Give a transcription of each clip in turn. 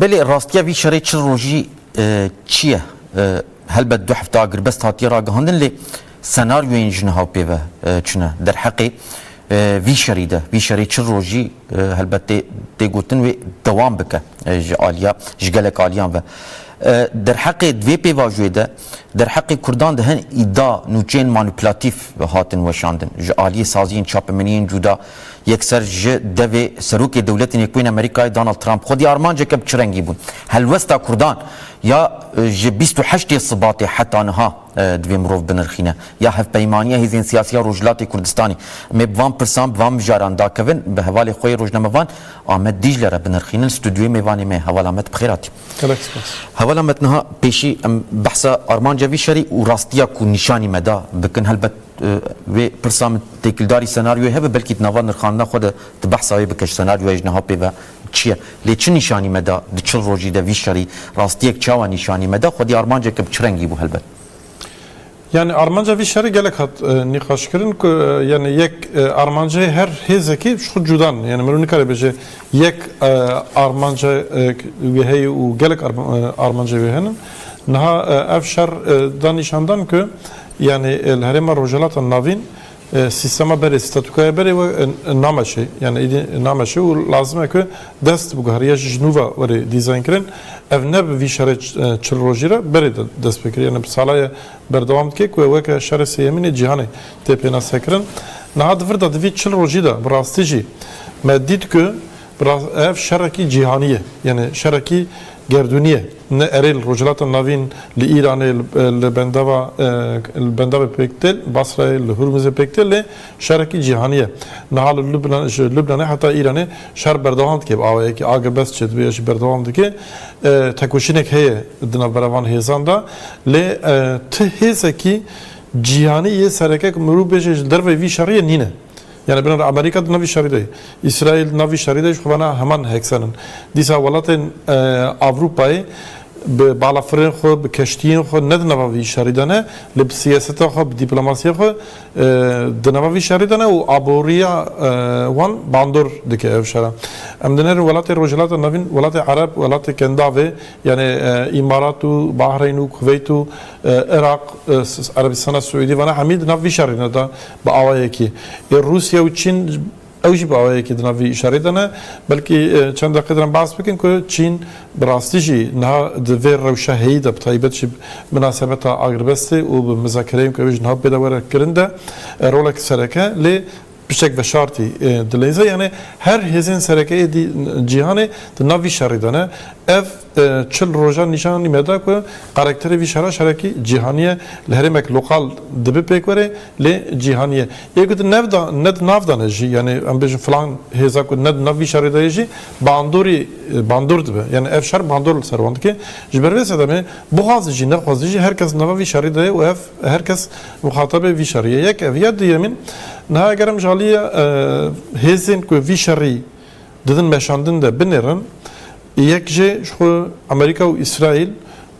Belê rastiya vî şerê çil rojî çi ye? Helbet du hefte agirbest hatiye ragihandin lê senaryoyên ji niha pê ve çune. Derheqê vî şerî de, vî şerê çil rojî helbet tê gotin wê dewam bike ji aliya, ji gelek aliyan ve. Derheqê di vê pêvajoyê de, derheqê kurdan di hin îda, nûçeyên manîplatîf hatin weşandin. Ji aliyê saziyên çapemeniyên cuda, Yekser ji devê Serokê Dewletê Nêkoyên Amerîkayê Donald Trump xwedî armanceke bi çi rengî bûn helwesta kurdan ya ji bîst û heştê Sibatê heta niha divê mirov binirxîne ya hevpeymaniya hêzên siyasî ya Rojhilatê Kurdistanê. Em ê bi van pirsan, bi van mijaran dakevin bi hevalê xwe yê rojnamevan Amed Dîcle re binirxînin. Stûdyoyê mêvanê me Heval Amed bi xêr hatî. Gelek spas. Heval Amed niha pêşî em behsa armanca vî şerî û rastiya ku nîşanî me da bikin. Helbet Vê pirsa min têkildarî senaryoyê hebe belkî di nava nirxandina xwe de tu behsa wê bike ji senaryoya ji niha pê ve çi ye. Lê çi nîşanî me da di çil rojî de vî şerî rastiyek çawa nîşanî me da? Xwedî armanceke bi çi rengî bû helbet? Yanî armanca vî şerî gelek hat nîqaşkirin ku yanî yek armanceyê her hêzekî ji xwe cuda ne. Yanî mirov nikare bêje yek armancek wê heye û gelek armanceyê wê hene. Niha ev şer da nîşandan ku Yanî li Herêma Rojhilata Navîn sîstema berê, statûkaya berê we nameşê. Yanî êdî nameşê û lazim e ku dest biguherîya jî ji nû ve werê dîzaynkirin. Ev ne bi vî şerê çil rojî re berê de dest pê kir. Yanî bi sala ye berdewam dike ku ew weke şerê sêyemîn ê cîhanê tê pênasekirin. Niha di vir de di vî çil rojî de bi rastî jî me dît ku Bi rast ev şerekî cîhanî ye. Yanê şerekî gerdûnî ye. Ne erê li Rojhilata Navîn, li Îranê, li bendava li bendavê pêk tê, li Basrayê, li Hurmizê pêk tê lê şerekî cîhanî ye. Niha li Lubnan ji Lubnanê heta Îranê şer berdewam dike bi awayekî age bes çê dibe ya jî berdewam dike. Tekoşînek heye di navbera van hêzan de lê ti hêzekî cîhanî yê sereke ku mirov bêje ji derveyî vî şeriyê nîne. Yanî binêre Amerîka di navî şerî de ye, Îsraîl di navî şerî de jî xwe vana heman heksen in. Dîsa welatên Ewropayê bi balafirên xwe, bi keştiyên xwe ne di nava vî şerî de ne lê bi siyaseta xwe, bi dîplomasiya xwe di nava vî şerî de ne û aboriya wan bandor dike ev şera. Em dinêrin welatên Rojhilata Navîn, welatê Ereb, welatê Kendavê yanî Îmarat û Bahreyn û Kuveyt û Iraq, Erebîstana Siûdî vana hemî di nav vî şerî de ne. Bi awayekî ê Rûsya û Çîn ew jî bi awayekî di nav vî îşareyê de ne. Belkî çend deqeyê diran behs bikin ku Çîn bi rastî jî niha di vê rewşa heyî de bi taybet jî bi minasebeta agrbestê û bi mizakereyên ku ew ê ji niha bêde were kirin de rolek sereke lê piştek veşartî dileyze. Yanê her hêzên sereke êdî cîhanê di nav vî şerî de ne. Ev. Çil rojan nîşan anî me da ku karakterê vî şera şerekî cîhanî ye, li herêmek lokal dibe pêk were lê cîhanî ye. Yê ku tu nev da ne di nav de ne jî yanî em bêjin filan hêza ku ne di nav vî şerê de ye jî bandorî bandor dibe. Yanî ev şer bandor li ser wan dike. Ji ber vê sedemê bixwaze jî nexwaze jî her kes di nava vî şerê de ye û ev her kes muxatabê vî şerê ye. Yek ev ye duyemîn niha eger em ji aliyê hêzên ku vî şerî, Di vin meşandin de binêrin, yek jê ji xwe Amerîka û Îsraîl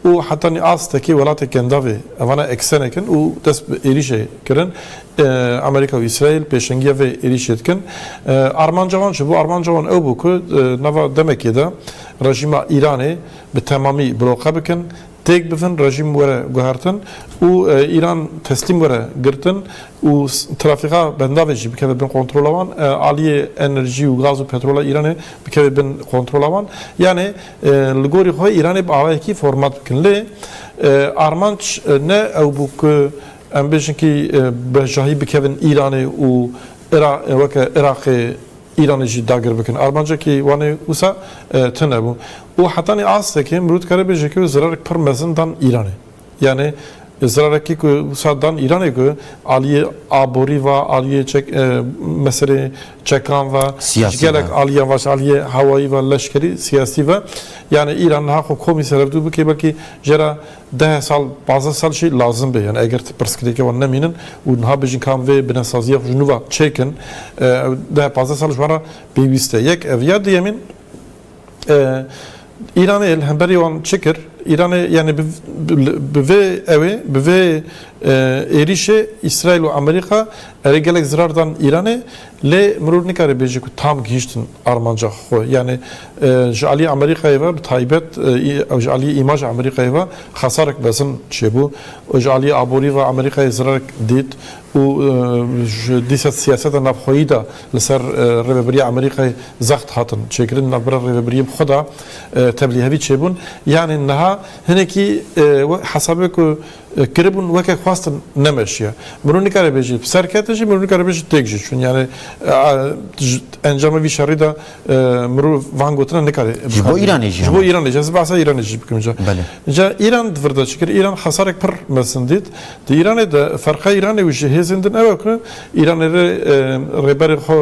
û hetanî astekê welatê Kendavê evana eksenek in û dest bi êrîşê kirin. Amerîka û Îsraîl pêşengiya vê êrîşê dikin. Armanca wan çi bû? Armanca wan ew bû ku di nava demekê de rejîma Îranê bi temamî bloqe bikin. Têk bibin rejîm were guhertin û Îran teslîm were girtin û trafîka bendavê jî bikeve bin kontrola wan, aliyê enerjî û gaz û petrola Îranê bikeve bin kontrola wan. Yanê li gorî xwe Îranê bi awayekî format bikin. Lê armanc ne ew bû ku em bêjin kî bejahî bikevin Îranê û weke Iraqê Îranê jî dagir bikin. Armancekî wan ê wisa tune bû û hetanî astekê mirov dikare bêje ku zirarek pir mezin dan Îranê. Yanî zirarekî ku wisa dan Îranê ku aliyê aborî ve, aliyê çek meselê çekan ve, ji gelek aliyan ve, aliyê hewayî ve, leşkerî, siyasî ve. Yanî Îran niha xwe komî serevdû bike belkî jê re. Deh sal, pazdeh sal jî lazim be. Yanî eger tu pirsgirêkê wan nemînin û niha bêjin ka em vê binesaziya xwe ji nû ve çêkin, ew deh pazdeh sal ji wan re pêwîst e. Yek ev ya duyemîn, Îranê li hemberî wan çi kir? Îranê yanî bi vê ewê, bi vê êrîşê Îsraîl û Amerîka erê gelek zirar dan Îranê. Lê mirov nikare bêje ku tam gihîştin armanca xwe. Yanî ji aliyê Amerîkayê ve bi taybet ew ji aliyê îmaja Amerîkayê ve xesarek mezin çêbû. Ji aliyê aborî ve Amerîkayê zirarek dît û ji dîsa siyaseta navxweyî de li ser Rêveberiya Amerîkayê zext hatin çêkirin. Di navbera rêvebiriyê bi xwe de tevlîhevî çêbûn. Yanî niha hinekî wek hesabê ku. Kiribûn weke xwestin nemeşiye. Mirov nikare bêje ser kete jî, mirov nikare bêje têk jî çûn. Yanî ji encama vî şerî de mirov van gotina nikare bikare. Ji bo Îranê jî. Ji bo Îranê jî. Ez ê behsa Îranê jî bikim ca. Belê. Ca Îran di vir de çi kir? Îran xesarek pir mezin dît. Di Îranê de ferqa Îranê û ji hêzên din ew e ku Îranê rê rêberê xwe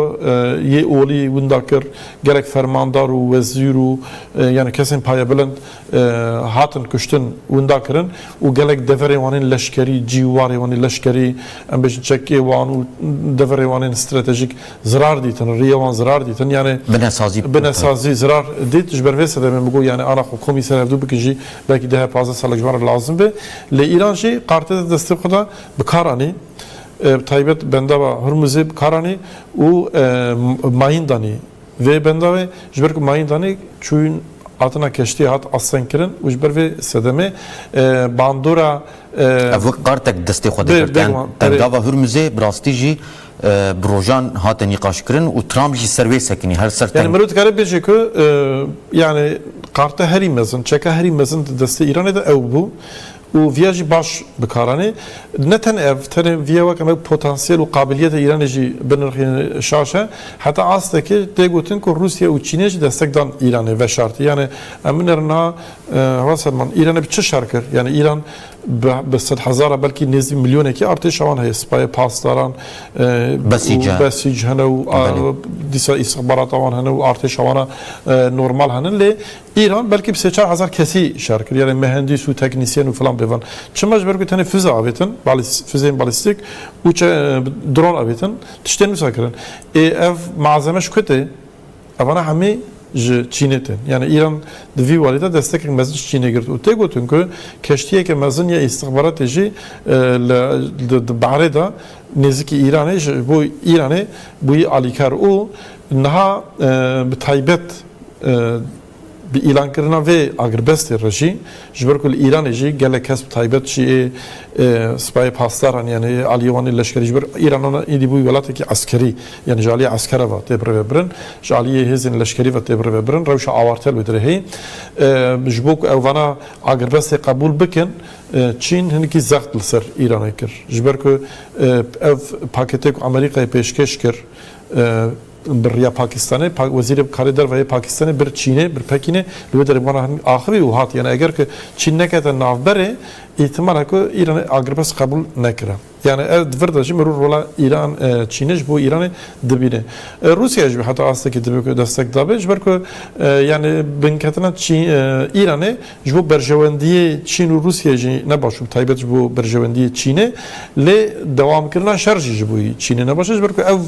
yê olî winda kir, gerek fermandar û wezîr û yanî kesên payebilind hatin kuştin, winda kirin û gelek deverên wan ên leşkerî, cîwarên wan ên leşkerî, em bêjin çekê wan û deverên wan ên stratejîk zirar dîtin, riyê wan zirar dîtin. Yanê binesazî zirar dît. Ji ber vê sedemê min got yanê ana xwe komî ser hevdu bikin jî belkî deh pazdeh salek ji wan re lazim be. Lê Îran jî karteza destê xwe de bi kar anî. Bi taybet bendava Hurmuzê bi kar anî û mayîn danî Vê bendavê ji ber ku mayîn danê çûyîn hatina keştiyê hat astengkirin û ji ber vê sedemê bandora Ev wek kartek destê xwe dê girtin. Bendava Hurmuzê bi rastî jî bi rojan hate nîqaşkirin û Trump jî ser wê sekinî her ser teng. Mirov dikare bêje ku yanî karte herî mezin, çeka herî mezin di destê Îranê de ew bû û vîya jî baş bikaranê. Ne tenê ev, tenê vîya weke me potansîyel û qabiliyeta Îranê jî binirxînin şaş e. Heta astekê tê gotin ku Rûsya û Çînê jî destek dan Îranê veşartî. Yanê em binêrin niha hewa serman Îranê bi çi şer kir? Yanê Îran bi sed hezara belkî nêzdî milyonekî artêşa wan heye, sipayê pasdaran û besîc hene û dîsa îstixbarata wan hene û artêşa wan a normal hene lê Îran belkî bi sê çar hezar kesî şer kir, yanê mehendîs û teknîsyen û filan bê van. Çima? Ji ber ku tenê fize avêtin, fizeyên balîstîk û dron avêtin, tiştên wisa kirin. Ê ev malzeme ji ku tê? Evana hemî ji Çînê tên. Yanê Îran di vî warî de destekek mezin ji Çînê girt û tê gotin ku keştiyeke mezin ya îstixbaratê jî li di bahrê de nêzikî Îranê ji bo Îranê bûyî alîkar û niha bi taybet Bi îlankirina vê agirbestê re jî ji ber ku li Îranê jî gelek kes bi taybet jî ê sipayê pasdaran yanî aliyê wan ê leşkerî ji ber Îranan êdî bû welatekî eskerî yanî ji aliyê eskere ve tê birêvebirin ji aliyê hêzên leşkerî ve tê birêvebirin rewşa awarte li wê dire heye. Ji bo ku ew vana agirbestê qebûl bikin Çîn hinekî zext li ser Îranê kir ji ber ku ev paketê ku Amerîkayê pêşkêş kir Bi riya Pakistanê, Wezîrê Karê Derve yê Pakistanê bir Çînê, bir Pekînê li wê derê bi wan re axivî û hat yanê eger ku Çîn nekete navberê îhtimal e ku Îran agirpest qebûl nekira. Yanê ev di vir de jî mirû rola Îran Çînê ji bo Îranê dibîne. Rûsya jî heta astekî divê ku destek dabê ji ber ku yanê binketina Îranê ji bo berjewendiyê Çîn û Rûsyayê jî ne baş û bi taybet ji bo berjewendiyê Çînê lê dewamkirina şer jî ji bo Çînê ne baş e ji ber ku ev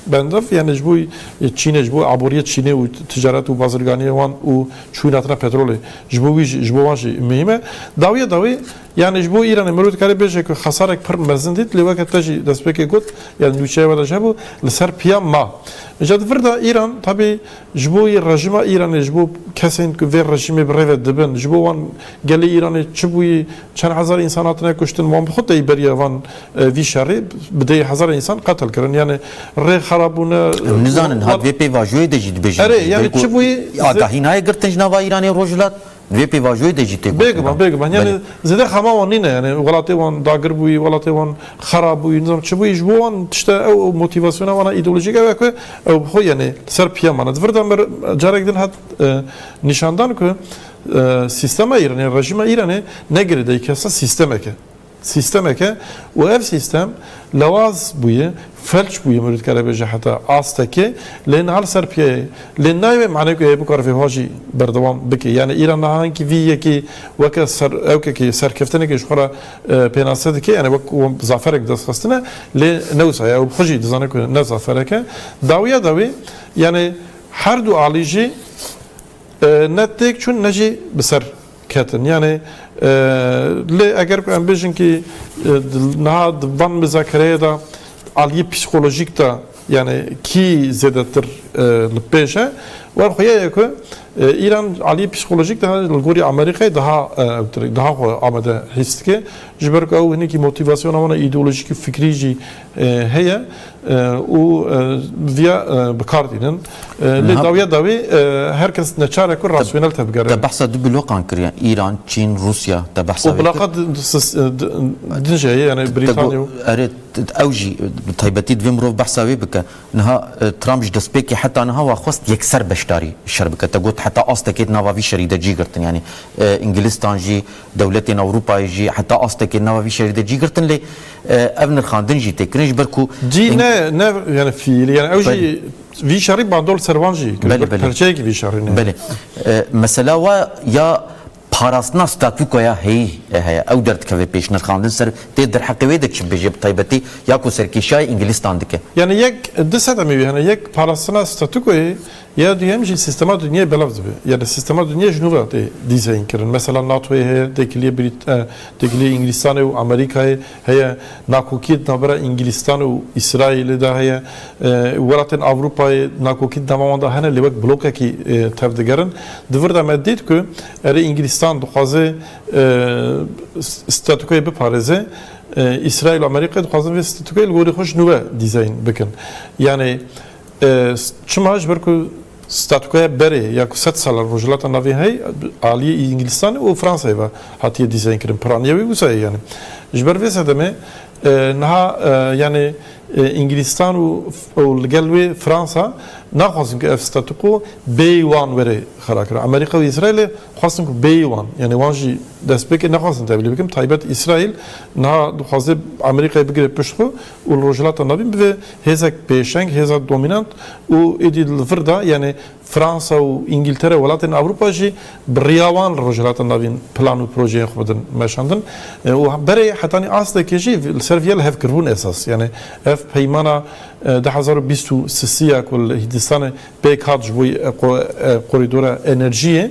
Bendov yanê ji bo Çînê, ji bo aboriyê Çînê û ticaret û bazirganiyê wan û çûyîn hatina petrolê ji bo wî jî ji bo wan jî muhîm e. Dawiya dawî yanê ji bo Îranê mirov dikare bêje ku xesarek pir mezin dît lê weke te jî destpêkê got yanê nûçeya we de jî hebû li ser piya ma. Îja di vir de Îran tabî ji bo yê rejîma Îranê ji bo kesên ku vê rejîmê bi rê ve dibin ji bo wan gelê Îranê çi bûyî çend hezar însan hatine kuştin wan bi xwe tey beriya van Vî şerî bi dê hezar însan qetil kirin. Yanî rê xerab bûne. Em nizanin hat vê pêvajoyê de jî dibêjin. Erê yanî çi bûyî? Agahî nayê girtin ji nava Îranê û Rojhilat? Di vê pêvajoyê de jî tê gotin. Bêguman bêguman. Yanî zêde xema wan nîne. Yanî welatê wan dagir bûyî, welatê wan xerab bûyî, nizanim çi bûyî. Ji bo wan tişte ew ew motîvasyona wan a îdeolojîk ew e ku ew bi xwe yanî li ser piya mane. Di vir de mir carek din hat nîşandan ku sîstema Îranê, rejîma Îranê ne girêdayî kesa sîstemek e. Sîstemeke û ev sîstem lewaz bûye, felç bûye mirû dikare bêje heta astekê lê niha li ser piyeyê lê nayê wê manê ku heye bikare vê ho jî berdewam bike. Yanî Îran niha hinkî vî yekê weke serewkekê serkeftinekê ji xwe re pênase dike yanî wek zaferek bi dest xistine lê ne wisa ye ew xwe jî dizane ku ne zaferek e. Dawiya dawî yanî her du alî jî ne têk çûn ne jî bi ser Ketin. Yanî lê eger ku em bêjin kî niha di van mizakereyê de aliyê psîkolojîk de yanî kî zêdetir li pêş e wan xuya ye ku Îran aliyê psîkolojîk de li gorî Amerîkayê daha ewtir e, daha xwe amade hîs dike ji ber ku ew hinekî motîvasyona wan a îdeolojîk û fikrî jî heye û viya bi kar dînin. Lê dawiya dawî her kes neçar e ku rasyonel tevgere. Te behsa du blokan kiriye Îran, Çîn, Rûsya te behsa. Û bloka din jî heye yanî Brîtanya û. Erê ew jî bi taybetî divê mirov behsa wê bike. Niha Trump ji destpêkê heta niha wa xwest yekser beşdarî şer bike. Te got heta astekê di nava vî şerî de cî girtin yanî Ingilîstan jî, Dewletên Ewropayê jî heta astekê nava vî şerî de cî girtin lê ev nirxandin jî tê kirin ji ber ku Cî ne ne yani fiîlî yani ew jî vî şerî bandol ser wan jî kir. Belê belê. Perçeyekî vî şerî ne. Belê. Mesela wa ya parastina statûkoya heyî heye. Ew derdikeve pêş nirxandin ser tê derheqê wê de çi bibêje bi taybetî ya ku serkêşiyayê îngilîztan dike. Yani yek di sedemê wî hene. Yek parastina statûkoyê Ya duyem jî sîstema dinyayê belav dibe. Yanî sîstema dinyayê ji nû ve tê dîzeyînkirin. Mesela NATOyê heye, têkiliyê Brît têkiliyê Îngilîstanê û Amerîkayê heye, nakokiyê di navbera Îngilîstan û Îsraîlê de heye. Welatên Ewropayê nakokî di nava wan de hene lê wek blokekî tev digerin. Di vir de me dît ku erê Îngilîstan dixwaze statûkoyê biparêze, Îsraîl û Amerîkayê dixwazin vê statûkoyê li gorî xwe ji nû ve dîzeyîn bikin. Yanî Çima ji ber ku statûkaya berê ya ku sed sal e li Rojhilata Navîn heye aliyê Îngilîstanê û Fransayê ve hatiye dîzayn kirin. Piraniya wê wisa ye yanî. Ji ber vê sedemê niha yanî Îngilîstan û li gel wê Fransa naxwazin ku ev statûko bêyî wan were xirakirin. Amerîka û Îsraîlê xwestin ku bêyî wan yanî wan jî destpêkê nexwestin tevlî bikin. Taybet Îsraîl niha dixwaze Amerîkayê bigire pişt xwe. û li Rojhilata Navîn bibe hêzek pêşeng, hêza domînant û êdî li vir de yanê Fransa û Îngîltere û welatên Ewropa jî bi riya wan li Rojhilata Navîn plan û projeyên xwe bidin meşandin û berê hetanî astekê jî li ser vî ye li hev kiribûn esas yanê ev peymana du hezar û bîst û sisî ya ku li Hîndistanê pêk hat ji bo korîdora enerjiyê.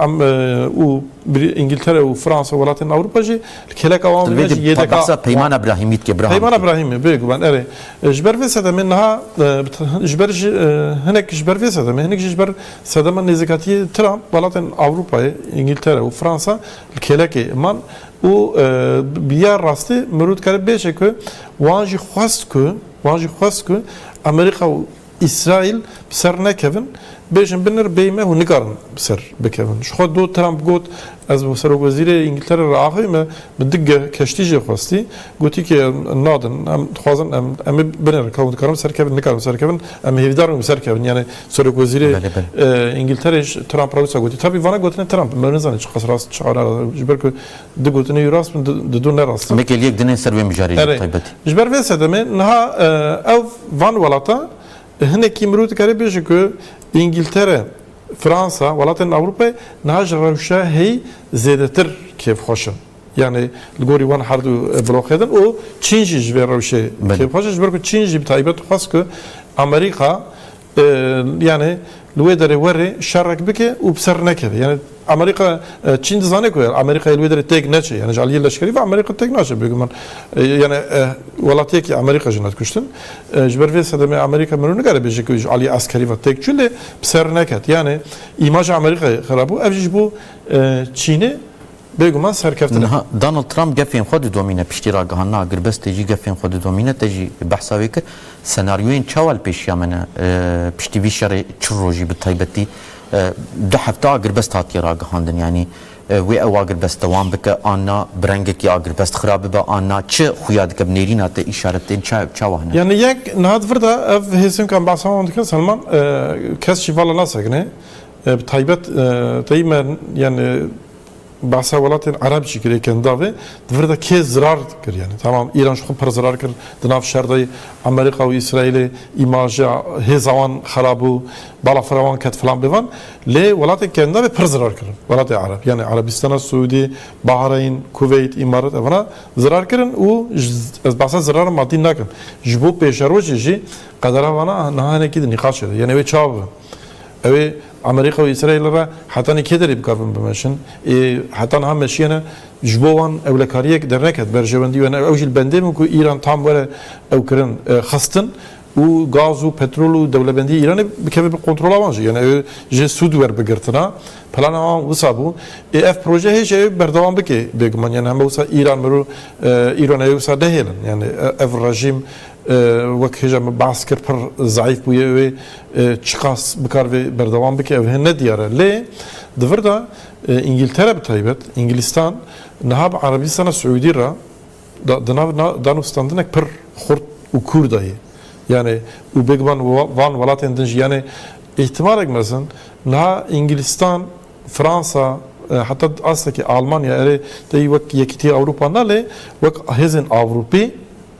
Em û Îngiltere û Fransa û welatên Ewropa jî li kêleka wan Di vê de jî yêdeka behsa peymana Brahîmî dike. Braham Peymana dike. Brahîmê bê guman erê. Ji ber vê sedemê niha ji ber ji hinek ji ber vê sedemê hinek jî ji ber sedema nêzîkatiyê Trump welatên Ewropayê Îngiltere û Fransa li kêlekê man û bi ya rastî mirov dikare bêje ku wan jî xwest ku wan jî xwest ku Amerîka û Îsraîl bi ser nekevin, bêjin binir bêyî me hûn nikarin bi ser bikevin. Ji xwe do Trump got, Ez bi serokwezîrê Îngiltere re axivî me bi du geh keştî jê xwestî, gotî ki em nadin, em dixwazin em em ê binirin, ka hûn dikarin bi ser kevin, nikarin bi ser kevin, em ê hêvîdar bin bi ser kevin. Yanê serokwezîrê Îngiltereyê ji Trump re wisa gotî. Tabî vana gotinên Trump in, me nizanin çiqas rast in çiqas ne rast in. Ji ber ku Du gotinên wî rast bûn, di du ne rast in. Nekê li yek dine ser wê mijarê jî bi taybetî. Ji ber vê sedemê niha ew van welatan hinekî mirov dikare bêje ku Îngîltere, Fransa, welatên Ewropayê niha ji rewşa heyî zêdetir kêfxweş in. Yanî li gorî wan her du bloqê din û Çîn jî ji vê rewşê kêfxweş e ji ber ku Çîn jî bi taybet xwest ku Amerîka Yanî li wê derê were şerek bike û bi ser nekeve. Yanî Amerîka Çîn dizane ku Amerîkayê li wê derê têk neçe. Yanî ji aliyê leşkerî ve Amerîka têk naçe bêguman. Yanî welatiyekî Amerîka jin hat kuştin. Ji ber vê sedemê Amerîka mirov nikare bêje ku ji aliyê eskerî ve têk çû lê bi ser neket. Yanî îmaja Amerîkayê xirab bû. Ev jî ji bo Çînê Bêguman serkeftin e. Niha Donald Trump gefên xwe didomîne, piştî ragihandina agirbestê jî gefên xwe didomîne, te jî behsa wê kir. Senaryoyên çawa li pêşiya me ne? Piştî vî şerê çil rojî bi taybetî du hefte agirbest hatiye ragihandin. Yanî wê ew agirbest dewam bike an na, bi rengekî agirbest xira bibe an na, çi xuya dike, bi nêrîna te îşaretên çawa hene? Yanî yek niha di vir de ev hêsinkan behsa wan dikin, Selman kes jî vala nasekine, Bi taybet teyî me yani behsa welatên Ereb jî kirê kendavê di vir de kê zirar kir yani tamam Îran ji xwe pir zirar kir di nav şer de Amerîka û Îsraîlê îmaja hêza wan xerab bû balafira wan ket filan bêvan lê welatên kendavê pir zirar kirin welatê Ereb yani Erebîstana Siûdî Bahreyn Kuveyt Îmarat evana zirar kirin û ez behsa zirara madî nakim ji bo pêşerojê jî qedera vana niha hinekî di nîqaşê de yani wê çawa bibin Ew ê Amerîka û Îsraîlê re hetanî kê derî bikarbin bimeşin? Ê heta niha meşiyene ji bo wan ewlekariyek derneket, berjewendî we ne. Ew jî li bendê bû ku Îran tam were ew kirin xistin û gaz û petrol û dewlebendiyê Îranê bikeve bi kontrola wan jî. Yanî ew ê ji sûd werbigirtina. Plana wan wisa bû. Ê ev proje hê jî ew ê berdewam bike bêguman. Yanî heme wisa Îran mir û Îrona yê wisa nehêlin. Yanî ev rejîm. Wek hêja min behs kir pir zeîf bûye wê çiqas bikar vê berdewam bike ev hin ne diyar e. Lê di vir de Îngîltere bi taybet Îngilîstan niha bi Erebîstana Siûdî re di nav danûstandinek pir xurt û kûr de ye. Yanê û bêguman van welatên din jî yanê îhtimalek mezin niha Îngilîstan Fransa heta astekî Almanya erê tê wek Yekîtîya Ewropa na lê wek hêzên Ewropî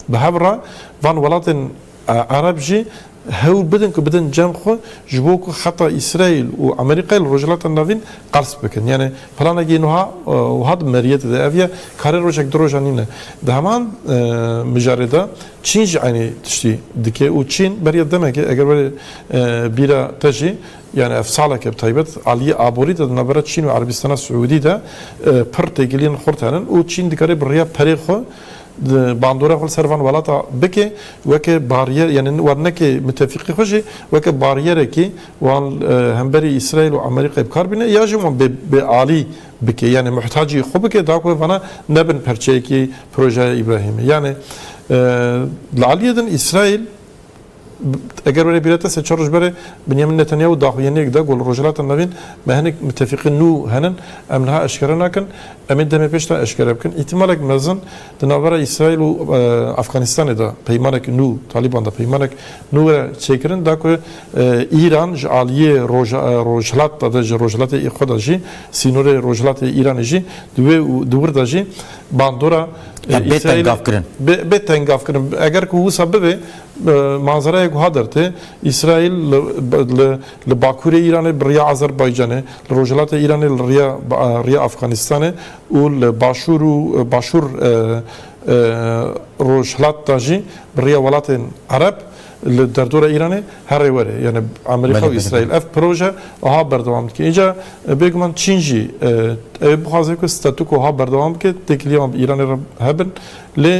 bi hev re van welatên Ereb jî hewl bidin ku bidin cem xwe ji bo ku heta Îsraîl û Amerîkayê li Rojhilata Navîn qers bikin. Yanê planekî nuha wiha di meriyetê de ev ye karê rojek du rojan nîne. Di heman mijarê de Çîn jî eynî tiştî dike û Çîn beriya demekê eger werê bîra te jî Yanî ev saleke bi taybet aliyê aborî de di navbera Çîn û Erebîstana Siûdî de pir têkiliyên xurt hene û Çîn dikarê bi riya perê xwe bandora xwe li ser van welata bike weke barîyer yanî wan neke mitefîqî xwe jî weke barîyerekî wan hemberî Îsraîl û Amerîkayê bikar bîne ya jî wan bê alî bike yanî muhtacî xwe bike da ku vana nebin perçeyekî projeya Îbrahîmê. Yanî li aliyê din Îsraîl. Eger were bîra te sê çar roj berê Binyamin Netanyahu daxuyaniyek da ku li Rojhilata Navîn me hinek mitefîqî nû henin, em niha eşkere nakin, em ê demê pêş de eşkere bikin. Îhtimalek mezin di navbera Îsraîl û Afxanistanê de peymanek nû, Talîban de peymanek nû were çêkirin da ku Îran ji aliyê Rojhilat de ji Rojhilatê xwe de jî sînorê Rojhilatê Îranê jî di wê û di wir de jî bandora Îsraîlê bê tengavkirin. Eger ku wisa bibe manzerayek wiha dertê, Îsraîl li bakûrê Îranê bi riya Azerbaycanê, li rojhilatê Îranê li riya Afxanistanê û li başûr û başûr rojhilat de jî bi riya welatên Ereb, Li derdora Îranê herê were yanî Amerîka û Îsraîl ev proje wiha berdewam dike. Înca bêguman Çîn jî ew ê bixwaze ku statuko wiha berdewam bike, têkilîya wan bi Îranê re hebin lê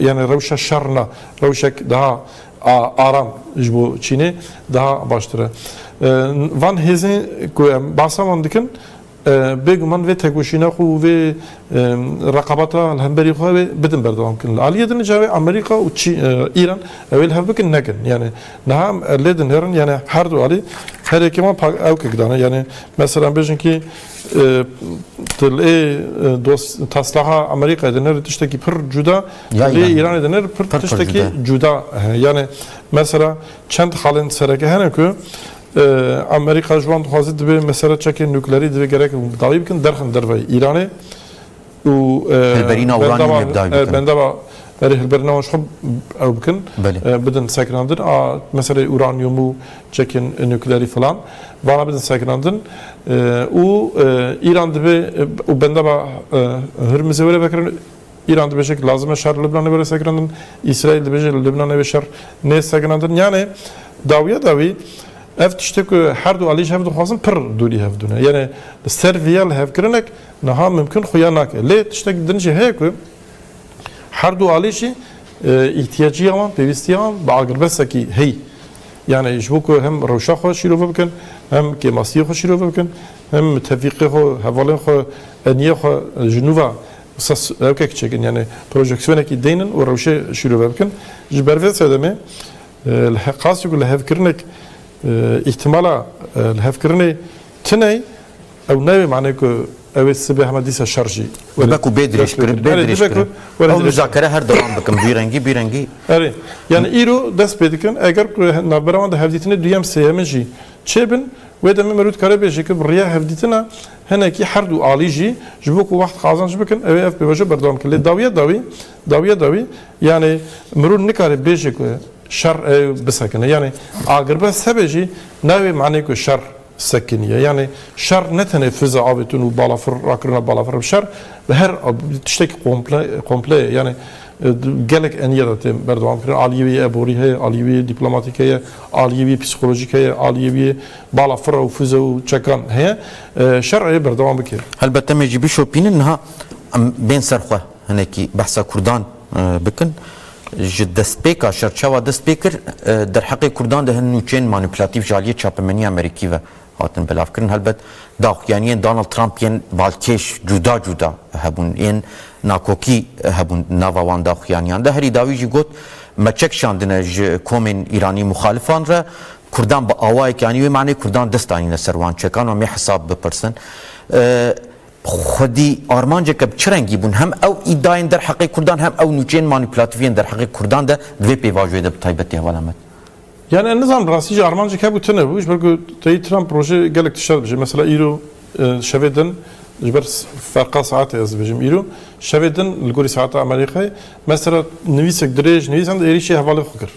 yanî rewşa şer na. Rewşek daha aram ji bo Çînê daha baştir e. Van hêzên ku em behsa wan dikin, Bêguman vê tekoşîna xwe û vê reqabeta li hemberî xwe wê bidin berdewam kirin. Li aliyê din ca wê Amerîka û Îran ew ê li hev bikin nekin. Yanî niha em lê dinêrin yanî her du alî herêkê wan ewkek dane. Yanî mesela em bêjin kî tu lê taslaha Amerîkayê dinêrî tiştekî pir cuda tu lê Îranê dinêrî pir tiştekî cuda. Yanî mesela çend xalên sereke hene ku Amerîka ji wan dixwaze divê mesele çekên nuklerî divê gerek hûn bi dawî bikin derxin derveyî Îranê û hilberîna uranyûmê bi dawî bikin. Bendava berê hilberîna wan ji xwe ew bikin bidin sekinandin a meseleyê uranyûm û çekên nuklerî filan vana bidin sekinandin û Îran divê û bendava Hurmizê were vekirin Îran dibêje ku lazim e şer li Libnanê were sekinandin, Îsraîl dibêje li Libnanê wê şer nê sekinandin. Yanê dawiya dawî ev tiştê ku her du alî ji hev dixwazin pir dûrî hev dune. Yanê li ser vî ya lihevkirinek niha mimkun xuya nake. Lê tiştek din jî heye ku her du alî jî îhtiyacîya wan, pêwîstiya wan bi agirbesekî heyî. Yanê ji bo ku hem rewşa xwe şîrove bikin, hem kêmasiyê xwe şîrove bikin, hem tevîqê xwe, hevalên xwe, eniyê xwe ji nû ve Ses rewkek çêkin yanî projeksiyonekî deynin û rewşê şîrove bikin. Ji ber vê sedemê li he qasî ku lihevkirinek îhtimala lihevkirinê tiney ew nayê manê ku ew ê sibê hema dîsa şer jî Dibe ku bê dirêj kirin bê dirêj kirin. Ew muzakere her dewam bikin vî rengî bî rengî. Erê yanî îro dest pê dikin eger ku navbera wan de hevdîtinê duyem sêyemin jî çêbin wê demê me rû dikare bêje ku bi riya hevdîtina Hinekî her du alî jî ji bo ku wext qazanc bikin ew ê ev pêvajo berdewam bikin. Lê dawiya dawî, dawiya dawî yanê mirov nikare bêje ku şer ê bisekine. Yanê agirbest hebe jî nayê manê ku şer sekiniye. Yanê şer ne tenê fiza avêtin û balafir rakirina balafir. Şer bi her tiştekî komple komple ye. Yanê gelek eniye de tê berdewam kirin. Aliyê wî yê eborî heye, aliyê wî yê dîplomatîk heye, aliyê wî yê psîkolojîk heye, aliyê wî yê Bala fira û fize û çekan heye. Şer ê berdewam bike. Helbet em ê jî bişopînin niha em bên ser xwe hinekî behsa kurdan bikin. Ji destpêka şer çawa dest pê kir derheqê kurdan de hin nûçeyên manîplatîf ji aliyê çapemeniyê Amerîkî ve hatin belavkirin. Helbet daxuyaniyên Donald Trump yên balkêş cuda cuda hebûn. Yên nakokî hebûn di nava wan daxuyaniyan de. Herî dawî jî got me çek şandine ji komên Îranî muxalifan re. Kurdan bi awayekî anî wê manê kurdan dest anîne ser wan çekan û em ê hesab bipirsin. Xwedî armanceke bi çi rengî bûn hem ew îdayên derheqê kurdan hem ew nûçeyên manîpulatif yên derheqê kurdan de di vê pêvajoyê de bi taybetî heval em in. Yanî ez nizanim rastî jî armancek hebû tune bû ji ber ku teyî Trump rojê gelek tişt dibêje. Mesela îro şevê din ji ber ferqa saetê ez dibêjim îro şevê din li gorî saeta Amerîkayê mesela nivîsek dirêj nivîs êrîşî hevalên xwe kir.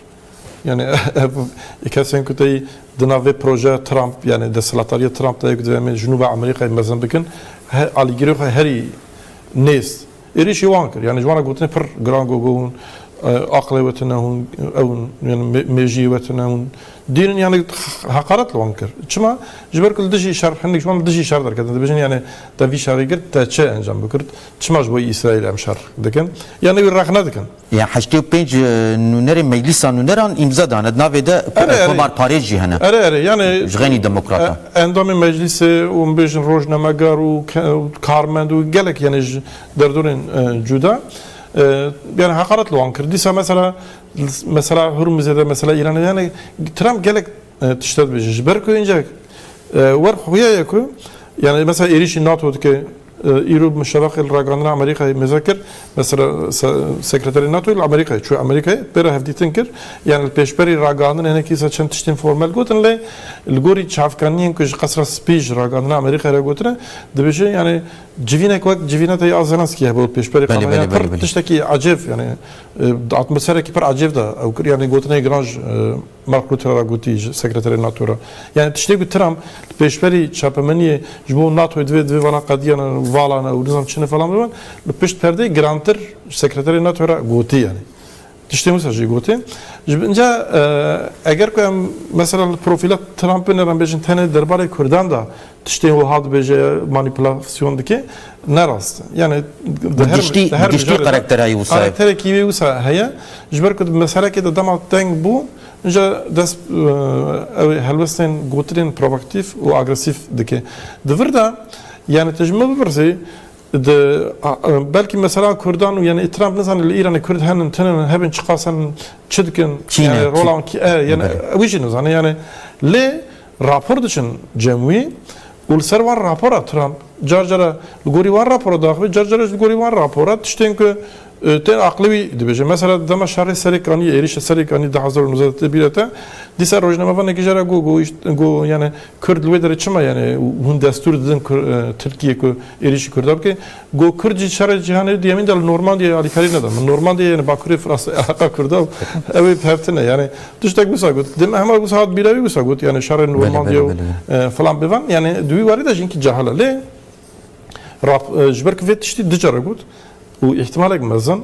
Yanî ev ê kesên ku tey di nav vê projeya Trump yanî desthilatdarîya Trump de ye ku divê em ê ji nû ve Amerîkayê mezin bikin alîgirê xwe herî nêz êrîşî wan kir. Yanî ji wan re gotinên pir giran gogo hûn aqilê we tune hûn ew hûn yanî mêjiyê we tune hûn dîn in yanî heqaret li wan kir. Çima? Ji ber ku li dijî şer hindik ji wan li dijî şer derketin dibêjin yanî te vî şerê kir te çi encam bikird? Çima ji bo Îsraîlê em şer dikin? Yanî wî rexne dikin. Yên heştê û pênc nûnerên Meclîsa Nûneran îmza dane. Di navê de Komar Parêz jî hene. Erê erê yanê Ji xênî demokratan. Endamên Meclîsê û min bêjin rojnamegar û karmend û gelek yanê ji derdorên cuda yanê heqaret li wan kir. Dîsa mesela li mesela Hurmizê de mesela Îranê de yanê Trump gelek tişte dibêje. Ji ber ku hincek wer xuya ye ku yanê mesela êrîşî NATO dike Îro Muşereqê li ragihandina Amerîkayê mêze kir, me sekreterê NATOyê li Amerîkayê çûye Amerîkayê pê re hevdîtin kir. Yan li pêşberî ragihandinê hinek dîsa çend tiştên formel gotin lê li gorî çavkaniyên ku ji Qesra Spî ji ragihandina Amerîkayê re gotine dibêje yanî civînek wek civîna te ya Zelenskî hebe û pêşberî qadayê pir tiştekî ecêb yanî atmoserekî pir ecêb de ew kir yanî gotinê giran ji Mark Rutte re gotî ji sekreterê NATO re. Yanî tiştê ku Trump li pêşberî çapemeniyê ji bo NATOyê divê divê vana qediyan e û valan e û nizam çin e falan bibe li pişt perdeyê girantir ji sekreterê NATO re gotî yanî. Tiştên wisa jî gotin. Ji bin ca eger ku em mesela li profîla Trumpê ne re em bêjin tenê derbarê Kurdan de Tiştên wiha dibêje manîpulasyon dike ne rast e. Yanî di her Giştî di her giştî mijarê de karakterayî wisa ye. karakterekî wê wisa heye. Ji ber ku di meselekê de dema teng bû îja dest eh, ew ê helwestên gotinên provaktîf û agresîf dike. Di vir de yanî tu ji min bipirsî di ah, eh, belkî mesela Kurdan û yanî ê Trump nizane li Îranê Kurd henin tinin hebin çiqas henin çi dikin Kî ne, yanî kî- rola wan kî e yanî Belê. wî jî nizane yanî lê Rapor diçin cem wî û li ser wan rapora Trump car cara li gorî wan rapora diaxive car cara jî li gorî wan rapora tiştên ku tên aqilê wî dibêje. Mesela di dema şerê Serê Kaniyê êrîşa Serê Kaniyê di hezar û nû sed û tê bîr e te dîsa rojnamevanekî jê re got got îş got yanê kurd li wê derê çima yanê hûn destûr didin Tirkiyê ku êrîşî kurda bike. Got Kurd jî şerê cîhanê duyemîn de li Normandiyeyê alîkarî neda. Min Normandiyeyê yani bakurê Fransayê Îraqa Kurd e û ew ê bihevtine. Yani tiştek wisa got. Di hema wisa hat bîra wî wisa got yani şerê Normandiye û filan bêvan yani di wî warî de jî hinkî cahil e. Lê rap ji ber ku vê tiştî du care got û îhtimalek mezin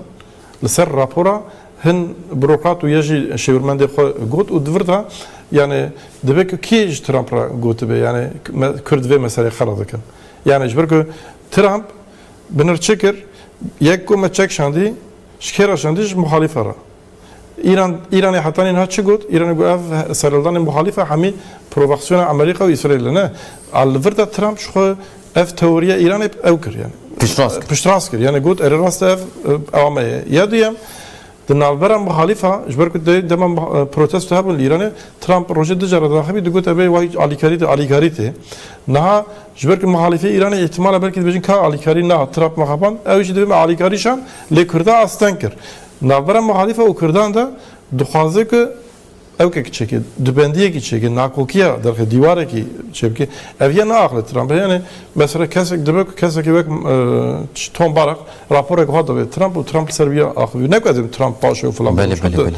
li ser rapora hin burokrat û ya jî şêwirmendê xwe got û di vir de yani dibe ku kê ji Trump re gotibe yani Kurd vê meseleyê qela dikin. Yani ji ber ku Trump bi nir çi kir? Yek ku me çek şandî, ji kê re şandî? Ji muxalîfe re. Îran, Îranê heta nîha çi got? Îranê got ev serhildanên muxalîfe hemî provaksiyona Amerîka û Îsraîl e. Ne. A li vir de Trump ji xwe ev teoriya Îranê ew kir. Piştrast kir. Piştrast kir. Yanî got erê rast e ev ew ame ye. Ya duyem, Di navbera muxalîfa, ji ber ku di dema protesto hebûn li Îranê, Trump rojê du caran daxebî digot ev ê wa hîç alîkarî tê, alîkarî tê. Niha ji ber ku muxalîfê Îranê îhtimala belkî dibêjin ka alîkarî na Trump me xapand, ew jî dibê me alîkarî şand, lê Kurda asteng kir. Navbera muxalîfa û Kurdan de dixwaze ku Ew ke kiçekê di bendiyekî çêke, nakokiya derxê dîwarekî çêbike, ev yê neaxile Trump. Yanê mesela kesek dibe ku kesekî wek Tom Barrack raporek wiha dibê Trump û Trump li ser wî ya axivî. Ne ku ez ê Trump paşê û filan bibim çunku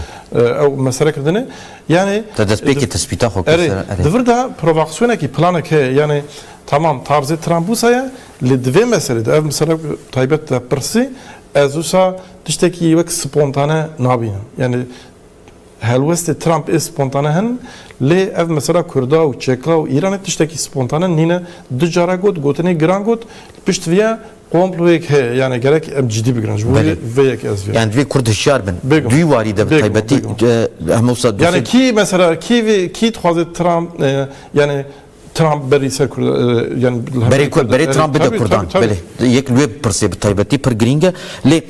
ew mesele kirdine. Yanê Te destpêkê tespîta xwe kir ser erê. Di vir de provaksiyonekî planek heye. Yanê tamam tarzê Trump wisa ye lê di vê meselê de ev mesela ku taybet te pirsî ez wisa tiştekî wek spontane nabînim. Yanê Helwestê Trump ê spontane hin lê ev mesela Kurda û Çeka û Îranê tiştekî spontane nîne. Du cara got, gotinê giran got, li pişt vê ya komployek heye. Yanê gerek em cidî bigirin. Ji bo vê vê yekê ez vêya. Yan divê Kurd hişyar bin. Bêguma. Duyî warî de bi taybetî Bêguma. Bêguma. Hemewisa dosye. Yanê kî mesela kî vê kî dixwaze Trump yanê Trump berî ser Kurd yan li Berê Kurd berê Trump bide Kurdan. Belê yek li wê bipirsê bi taybetî pir girîng e. Lê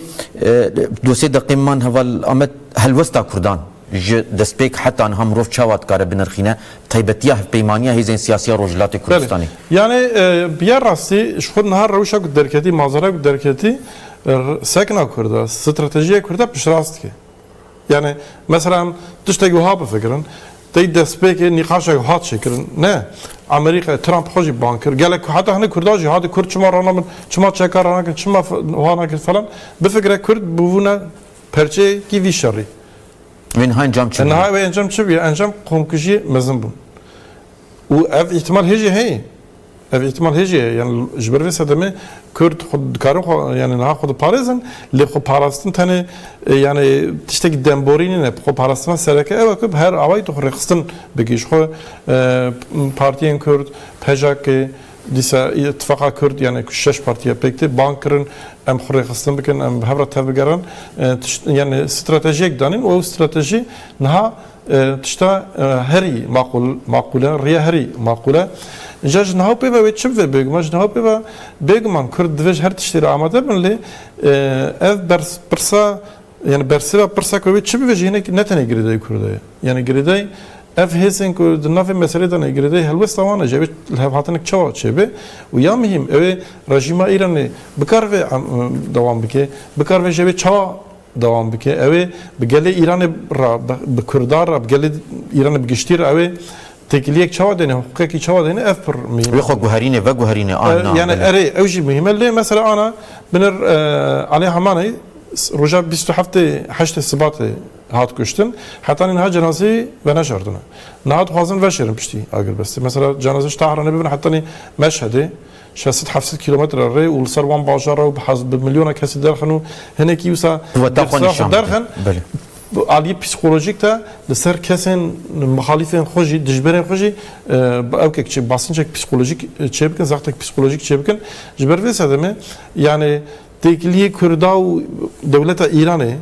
du sê deqeyên man heval Amed helwesta Kurdan ji destpêk heta niha mirov çawa dikare binirxîne bi taybetî ya hevpeymaniya hêzên siyasî ya Rojhilatê Kurdistanê? Yanî bi ya rastî ji xwe niha rewşa ku derketî, manzaraya ku derketî sekna Kurd e, stratejiya Kurd e piştrast dike. Yanî meselan tiştek wiha bifikirin, tey destpêkê nîqaşek hat çêkirin, ne Amerîkayê Trump xwe jî bang kir, gelek heta hindik Kurdan jî hatî Kurd çima raw nabin, çima çeka raw nakin, çima wiha nakin falan, bifikire Kurd bûbûne perçeyekî vî şerî. Wê niha encam çi bû? Niha wê encam çi bûye? Encam komkujiyê mezin bûn. Û ev îhtimal hê jî heye. Ev îhtimal hê jî ye. Yanî ji ber vê sedemê Kurd xwe dikarin xwe yanî niha xwe diparêzin lê xweparastin tenê yanî tiştekî demborî nîne. Xweparastina sereke ew e ku bi her awayî tu xwe rêxistin bikî ji xwe partiyên Kurd, PJK, dîsa Îtifaqa Kurd yanî ku şeş partî ye pêk tê bang kirin em xwe rêxistin bikin em bi hev re tevbigerin tişt yanî stratejiyek danîn û ew stratejî niha Tişta herî maqûl maqûl e, rêya herî maqûl e. Îja ji niha û pê ve wê çi bibe bêguman ji niha û pê ve bêguman Kurd divê ji her tiştî re amade bin lê ev bers pirsa yanî bersêva pirsa ku wê çi bibe jî hinek ne tenê girêdayî Kurda ye. Yanî girêdayî ev hêzên ku di navê meselê de ne girêdayî helwesta wan e jî ew ê li hev hatinek çawa çêbe û ya mihîm ew ê rejîma Îranê bikaribe dewam bike, bikaribe jî ew ê çawa dewam bike. Ew ê bi gelê Îranê re, bi Kurdan re, bi gelê Îranê bi giştî re ew ê têkiliyek çawa dêne, hiqûqekî çawa dêne ev pir mihîm e. Wê xwe guherîne, veguherîne a na. Yanî erê ew jî mihîm e. Lê mesela ana binir Alê Hamaney roja bîst û heftê heştê Sibatê hat kuştin. Heta nîha cenazeyê veneşardine. Niha dixwazin veşêrin piştî agirbestê. Mesela cenazeyê ji Tahranê bibin heta nî Meşhedê. Şeş sed heft sed kîlometre rê û li ser wan bajar e û bi hez bi milyona kesî derxin û hinekî wisa Qûweta xwe nîşan dide. derxin Belê. bi aliyê psîkolojîk de li ser kesên muhalîfên xwe jî dijberên xwe jî bi ewkek çê basincek psîkolojîk çê bikin zextek psîkolojîk çê bikin. Ji ber vê sedemê yanê têkiliyê Kurda û dewleta Îranê,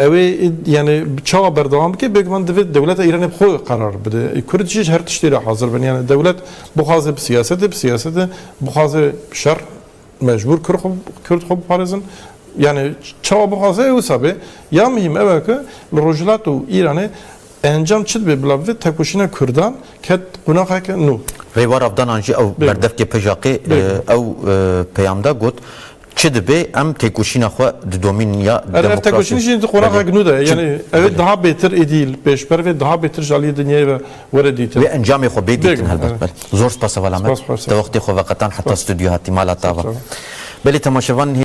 Ew ê yanî çawa berdewam bike? Bêguman divê dewleta Îranê bi xwe qerar bide. Kurd jî ji her tiştê re hazir bin. Yanî dewlet bixwaze bi siyasetê, bi siyasetê bixwaze bi şer mecbûr Kurd xwe Kurd xwe biparêzin. Yanî çawa bixwaze ew wisa be. Ya muhîm ew e ku li Rojhilat û Îranê Encam çi dibe bila vê tekoşîna kurdan ket qonaxeke nû? Rêva ravdanan jî ew berdevkê Pejaqê ew peyam da got, Çi dibe em têkoşîna xwe di domîn ya demokrasî Ev tekoşîn jî di qonaxek nû de ye. Yanî ew ê daha bêtir êdî li pêş bere vê daha bêtir ji aliyê dinyayê ve were dîtin. Wê encamê xwe bê dîtin helbet. Belê. Zor spas Heval Amed. Te wextê xwe veqetan heta stûdyo hatî mala tava. Belê temaşevan